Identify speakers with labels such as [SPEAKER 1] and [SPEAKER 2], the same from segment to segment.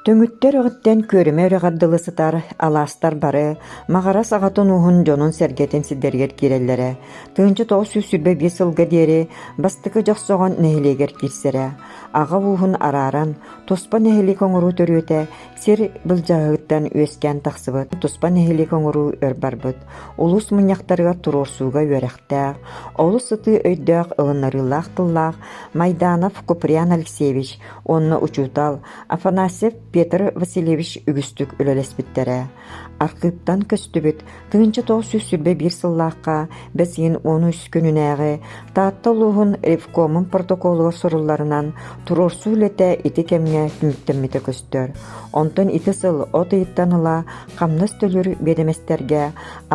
[SPEAKER 1] Түҥүттэр өрүттэн күөрүмэ үрэҕэр дылы сытар алаастар бары Маҕарас аҕатын ууһун дьонун-сэргэтин сирдэригэр киирэллэрэ. Тыһыынча тоҕус сүүс сүүрбэ биэс сылга диэри бастакы Дьохсоҕон нэһилиэгэр киирсэрэ. Аҕа ууһун арааран, туспа нэһилиэк оҥоруу төрүөтэ Сир былдьаһыгыттан үөскээн тахсыбыт туспа нэһилиэк оҥоруу өр барбыт, улуус мунньахтарыгар туруорсууга үөрэхтээх, олус сытыы өйдөөх ылынарыылаах тыллаах Майданов Куприян Алексеевич уонна учуутал Афанасьев Петр Васильевич үгүстүк үлэлэспиттэрэ. Архыыптан көстүбүт Тыһыынча тоҕус сүүс сүүрбэ биир сыллаахха бэсиин уон үс күнүнээҕи Таатта улууһун ревкомун протоколугар сурулларынан, туруорсуу үлэтэ ити кэмҥэ түмүктэммитэ көстөр. Онтон ити сыл от ыйыттан ыла хамнас төлүүр биэдэмэстэргэ,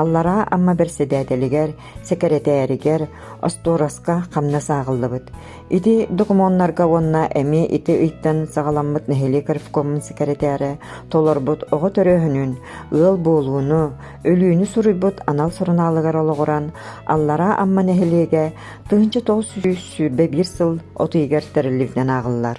[SPEAKER 1] Аллараа Амма бэрэссэдээтэлигэр, сэкирэтээригэр, остуораска хамнас ааҕыллыбыт. Ити докумуоннарга уонна эмиэ ити ыйтан саҕаламмыт нэһилиэк ревкомун сэкирэтээрэ толорбут оҕо төрөөһүнүн, ыал буолууну, өлүүнү суруйбут анал сурунаалыгар олоҕуран, Аллараа Амма нэһилиэгэ тыһыынча тоҕус сүүс сүүрбэ биир сыл от ыйыгар тэриллибитинэн ааҕыллар.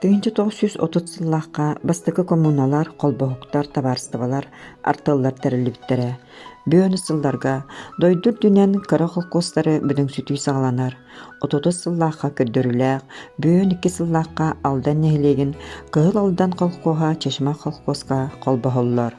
[SPEAKER 1] Тыһыынча тоҕус сүүс отут сыллаахха бастакы коммуналар, холбоһуктар, табаарыстыбалар артыллар тэриллибиттэрэ. Бөөнү сылларга дойду үрдүнэн кыра холкуостары бүдүҥсүтүү саҕаланар. Отутус сыллаахха көрдөрүүлээх, бөөн икки сыллаахха Алдан нэһилиэгин Кыһыл Алдан холкуоһа Чешма холкуоска холбоһоллор.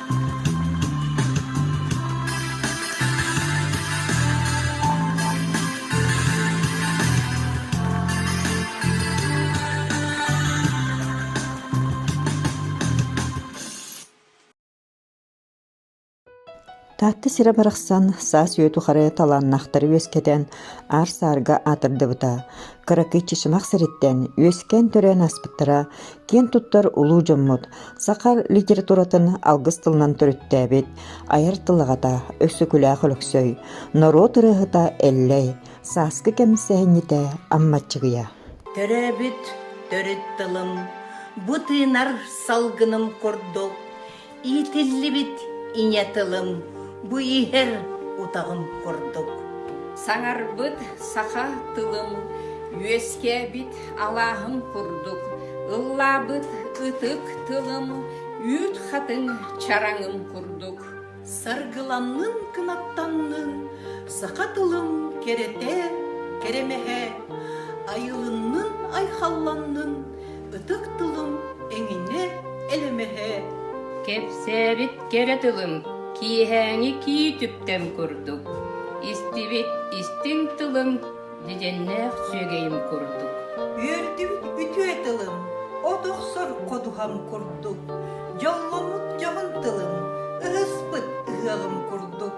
[SPEAKER 1] Таатта сирэ барахсан саас-үйэ тухары талааннахтары үөскэтэн, аар-саарга аатырдыбыта. Кыракый Чычымах сириттэн үөскээн төрөөн аспыттара киэн туттар улуу дьоммут саха литературатын алгыс тылынан төрүттээбит айар тылаҕата Өксөкүлээх Өлөксөй, норуот ырыаһыта Эллэй, сааскы кэмсэһинньитэ Аммаччыгыйа. Төрөөбүт төрүт тылым, бу тыынар салгыным курдук Иитиллибит ийэ тылым, бу иһэр утаҕым курдук. Саҥарбыт саха тылым, үөскээбит алааһым курдук, ыллаабыт ытык тылым, үүт хатыҥ чараҥым курдук. Саргыланнын, кынаттаннын, саха тылым кэрэтэ, кэрэмэһэ, айылыннын, айхалланнын, ытык тылым эҥинэ элэмэһэ. Кэпсээбит кэрэ тылым киэһээҥи кии түптэн курдук, истибит истиҥ тылым дидэннээх сүөгэйим курдук. Үөрдүбүт үтүө тылым от охсор ходуһам курдук, дьолломмут дьоһун тылым, ыһыспыт ыһыаҕым курдук.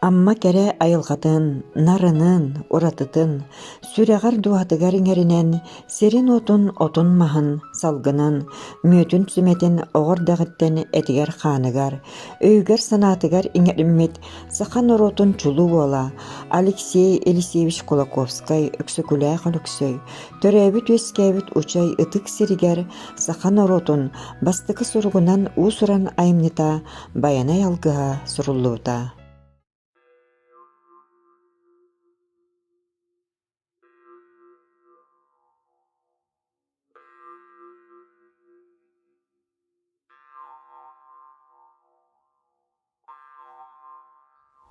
[SPEAKER 1] Амма кэрэ айылҕатын, нарынын, уратытын, сүрэҕэр-дууһатыгар иҥэринэн, сирин-уотун, отун-маһын, салгынын, мүөтүн-сүмэтин оҕо эрдэҕиттэн этигэр-хааныгар, өйүгэр-санаатыгар иҥэриммит саха норуотун чулуу уола Алексей Елисеевич Кулаковскай Өксөкүлээх Өлөксөй төрөөбүт-үөскээбит учай ытык сиригэр саха норуотун бастакы суругунан уус-уран айымньыта Байанай алгыһа суруллубута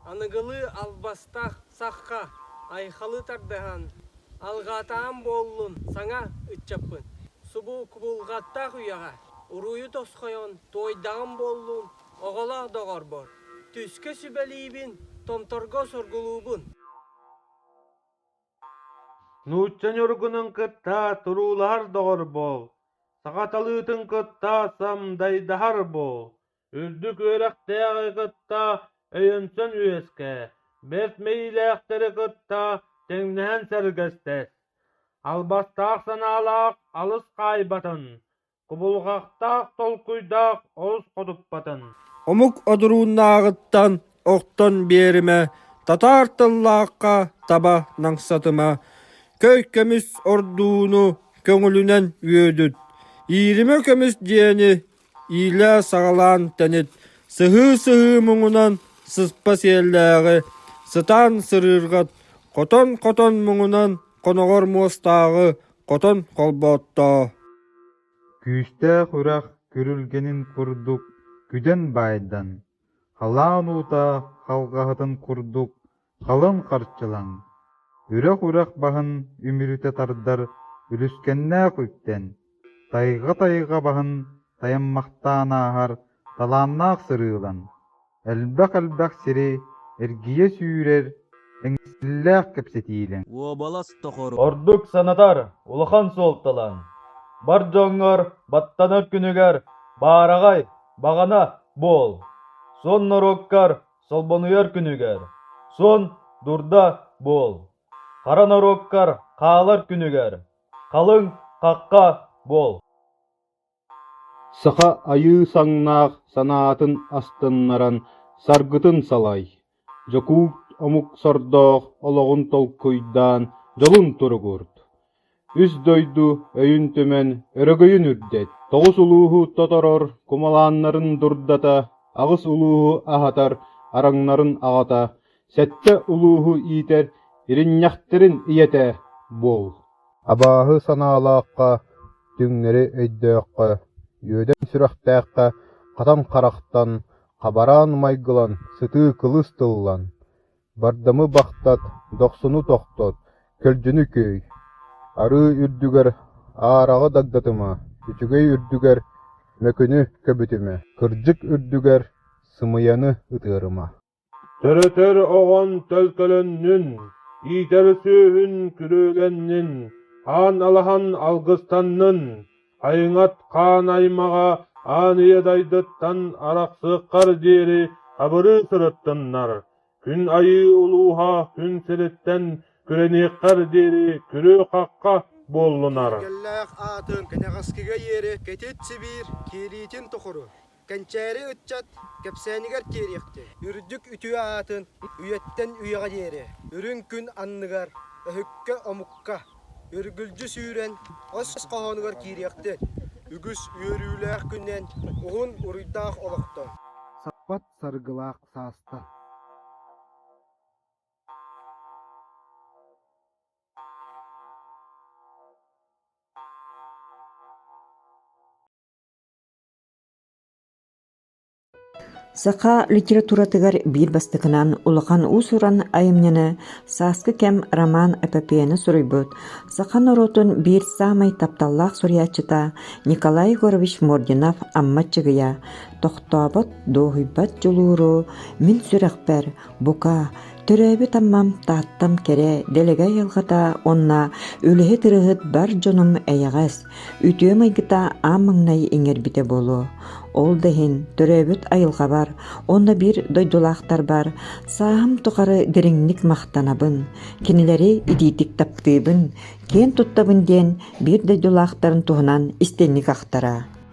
[SPEAKER 1] Аныгылыы албастах сахха айхалы тардыһан алҕаатаҕым буоллун саҥа ыччаппын. Субу кубулҕаттаах үйэҕэ уруйу тосхойон туойдаҕым буоллун оҕолоох доҕорбор. Түскэ сүбэлиибин, томторго соргулуубун. Нуучча ньургунун кытта туруулаһар доҕор буол, саха талыытын кытта самдайдаһар буол. үрдүк үөрэхтээҕи кытта өйөнсөн үөскээ, бэрт мэйиилээхтэри кытта тэҥнэһэн сэргэстэс, албастаах санаалаах алыс хаайбатын, кубулҕахтаах толкуйдаах олус хотуппатын. Омук одурууннааҕыттан охтон биэримэ, татаар тыллаахха таба намсатыма, көй көмүс ордууну көҥүлүнэн үөдүт, ииримэ көмүс дьиэни иилэ саҕалаан тэнит сыһыы-сыһыы муҥунан сыспа сиэллээҕи сытаан сырыырга хотон-хотон муҥунан хоноҕор муостааҕы хотон холбооттоо күүстээх үрэх күрүлгэнин курдук күдэн баайдан халаан уута халҕаһытын курдук халыҥ харчылаҥ, үрэх-үрэх баһын үмүрүтэ тардар үлүскэннээх үптэн, тайга-тайга баһын тайаммахтаан ааһар талааннаах сырыылан, элбэх-элбэх сири эргийэ сүүрэр эҥсиллээх кэпсэтиилэҥ. Уобалас тохору. Ордук санатар улахан суолталаҥ. Бар дьоҥҥор баттанар күнүгэр баараҕай баҕана буол. Сон норуоккар Солбонуйар күнүгэр, Сон дурда буол! Хара норуоккар хаалар күнүгэр, Халыҥ хахха буол! Саха айыы саҥнаах санаатын астыннаран саргытын салай, Дьокуут омук сордоох олоҕун толкуйдаан дьолун туругуурт! Үс дойду өйүн түмэн, өрөгөйүн үрдэт, тоҕус улууһу тоторор кумалааннарын дурдата, аҕыс улууһу аһатар араҥнарын аҕата, сэттэ улууһу иитэр иринньэхтэрин ийэтэ буол. Абааһы санаалаахха, түҥнэри өйдөөххө, үөдэн сүрэхтээххэ хатан харахтан, хабараан майгылан, сытыы кылыс тыллан, Бардамы бахтат, дохсуну тохтот, көлдьүнү күөй. Арыы үрдүгэр аараҕы дагдатыма, үчүгэй үрдүгэр мөкүнү көбүтүмэ, кырдьык үрдүгэр сымыйаны ытыарыма. Төрөтөр оҕон төлкөлөннүн, иитэр сүөһүн күрүөлэннин, аан алаһан алгыстаннын. Айыҥат хаан аймаҕа аан ийэ дайдыттан арахсыаххар диэри абырыы сырыттыннар, күн айыы улууһа күн сириттэн күрэниэххэр диэри күрүө-хахха буоллунар. Кэллээх аатын кэнэҕэскигэ иэри кэтит Сибиир киириитин тухары Кэнчээри ыччат кэпсээнигэр тиэриэхтиэ. Үрдүк үтүө аатын үйэттэн үйэҕэ диэри, үрүҥ күн анныгар, өһүккэ-омукка, үргүлдьү сүүрэн ос хоһоонугар киириэхтин. Үгүс үөрүүлээх күнүнэн уһун уруйдаах олохтон. Саппат саргылаах саастан. Саха литературатыгар биир бастакынан улахан уус-уран айымньыны «Сааскы кэм» роман-эпопеяны суруйбут, саха норуотун биир саамай тапталлаах суруйааччыта Николай Егорович Мординов Амма Чыгыйа «Тохтообот, дуоһуйбат дьулууру», «Мин сүрэхпэр», «Бука», «Төрөөбүт Аммам, Тааттам кэрэ», «Дэлэгэй айылҕата» уонна «Үлэһит ырыаһыт бар дьонум эйэҕэс», Үтүө майгыта аан маҥнай иҥэрбитэ буолуо. Ол да иһин төрөөбүт айылҕабар уонна биир дойдулаахтарбар сааһым тухары дириҥник махтанабын, кинилэри итиитик таптыыбын, киэн туттабын диэн биир дойдулаахтарын туһунан истиҥник ахтара.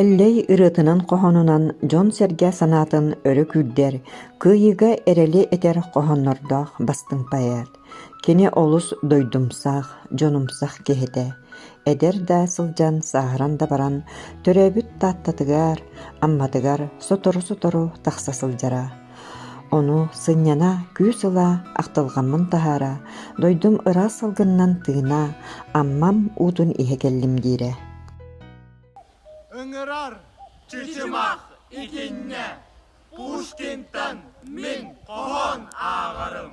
[SPEAKER 1] Эллэй ырыатынан-хоһоонунан дьон-сэргэ санаатын өрө күүрдэр, кыайыыга эрэли этэр хоһооннордоох бастыҥ поэт, кини олус дойдумсах, дьонумсах киһитэ. Эдэр да сылдьан, сааһыран да баран, төрөөбүт Тааттатыгар, Амматыгар сотору-сотору тахса сылдьара. Ону сынньана, күүс ыла, ахтылҕаммын таһаара, дойдум ыраас салгынынан тыына, Аммам уутун иһэ кэллим диирэ. Ыҥырар чычымах итиннэ Пушкинтан мин хоһоон ааҕарым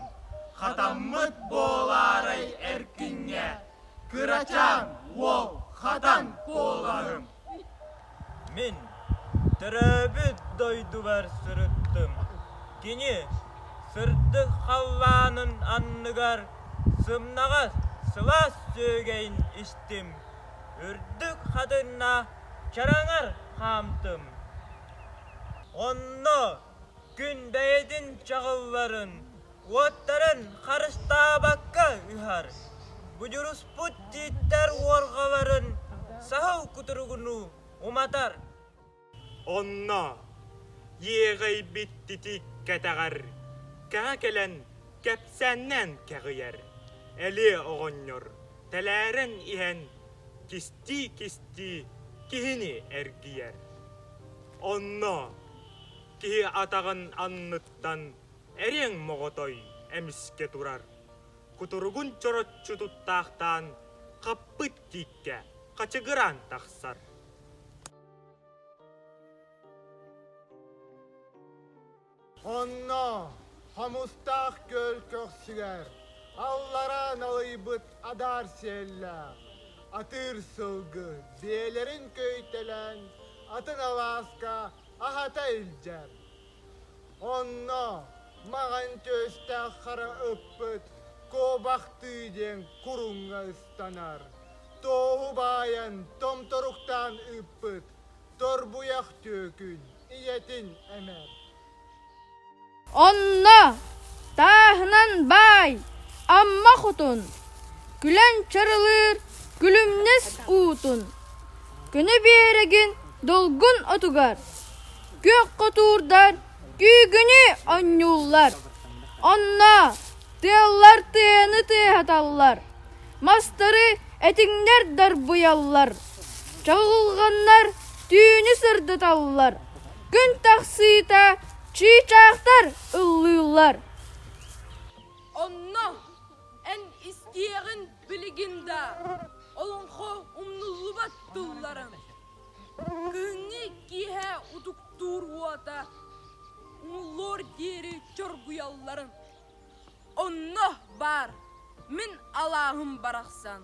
[SPEAKER 1] Хатаммыт буолаарай эркиҥҥэ Кырачаан уол хатан куолаһым Мин төрөөбүт дойдубар сырыттым Кини сырдык халлаанын анныгар Сымнаҕас сылаас сүөгэйин истим үрдүк хатынна чараҥар хаамтым. Онно күн бэйэтин чаҕылларын, уоттарын харыстаабакка ыһар, будуруспут тииттэр уорҕаларын саһыл кутуругунуу уматар. Онно иэҕэйбит титик кэтэҕэр кэҕэ кэлэн кэпсээннээн кэҕийэр, элиэ оҕонньор тэлээрэн иһэн кистии-кистии киһини эргийэр. Онно киһи атаҕын анныттан эриэҥ моҕотой эмискэ турар, кутуругун чороччу туттаахтаан хаппыт тииккэ хачыгыраан тахсар. Онно хомустаах көл көхсүлэр аллара налыйбыт адаар сиэллээх атыыр сылгы биэлэрин көйтэлэн атын алааска аһата илдьэр. Онно маҕан түөстээх хара ыппыт куобахтыы диэн куруҥҥа ыстар. аттанар. Тооһу баайан, томторуктаан ыыппыт Торбуйах түөкүн ийэтин эмэр. Онно тааһынан баай Амма хотун, күлэн чарылыыр күлүмнэс уутун, көнө биэрэгин долгун отугар, күөх хотуурдар күүгүнү онньууллар. Онно Тыаллар тыаны тыаһаталлар, мастары этиҥнэр дарбыйаллар, чаҕылҕаннар түүнү сырдаталлар, күн тахсыыта чыычаахтар ыллыыллар. Онно эн истиэҕиҥ билигин да олоҥхо умнуллубат тылларын, кыһыҥҥы киэһэ утуктуур уота умуллуор диэри чоргуйалларын. Онно баар, мин алааһым барахсан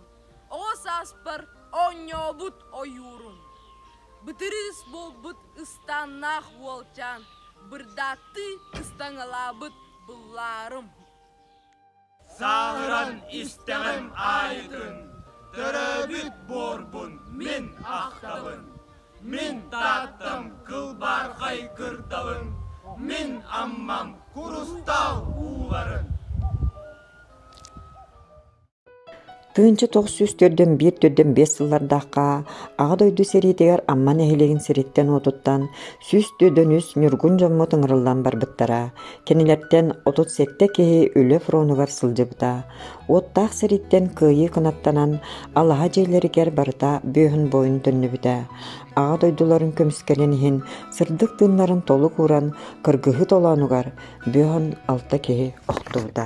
[SPEAKER 1] оҕо сааспар оонньообут ойуурум. Бытырыыс буолбут ыстааннаах уолчаан бырдааттыы ыстаҥалаабыт быллаарым. Сааһыран истэҕим аайытын, төрөөбүт буорбун мин ахтабын. Мин Тааттам кылбаархай кырдалын, мин Аммам курустаал ууларын. Тыынча тоҕус сүүс төрдөн биир төрдөн биэс сыллардаахха Аҕа дойду сэриитигэр Амма нэһилиэгин сириттэн-уотуттан сүүс төрдөн үс ньургун дьоммут ыҥырыллан барбыттара. Кинилэртэн отут сэттэ киһи үлэ фронугар сылдьыбыта. Уоттаах сириттэн кыайыы кынаттанан алаһа дьиэлэригэр барыта бүөһүн буойун төннүбүтэ, Аҕа дойдуларын көмүскэлин иһин сырдык тыыннарын толук ууран кыргыһыы толоонугар бүөһүн алта киһи охтубута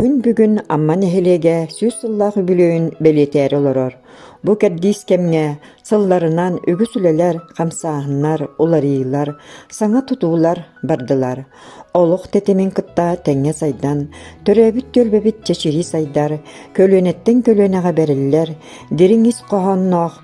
[SPEAKER 1] Күн бүгүн Амма нэһилиэгэ сүүс сыллаах үбүлүөйүн бэлиэтээри олорор. Бу кэрдиис кэмҥэ сылларынан үгүс үлэлэр, хамсааһыннар, уларыйлар, саҥа тутуулар бардылар. Олох тэтимин кытта тэҥҥэ сайдан, төрөөбүт түөлбэбит чэчирии сайдар, көлүөнэттэн көлүөнэҕэ бэриллэр дириҥ ис хоһоонноох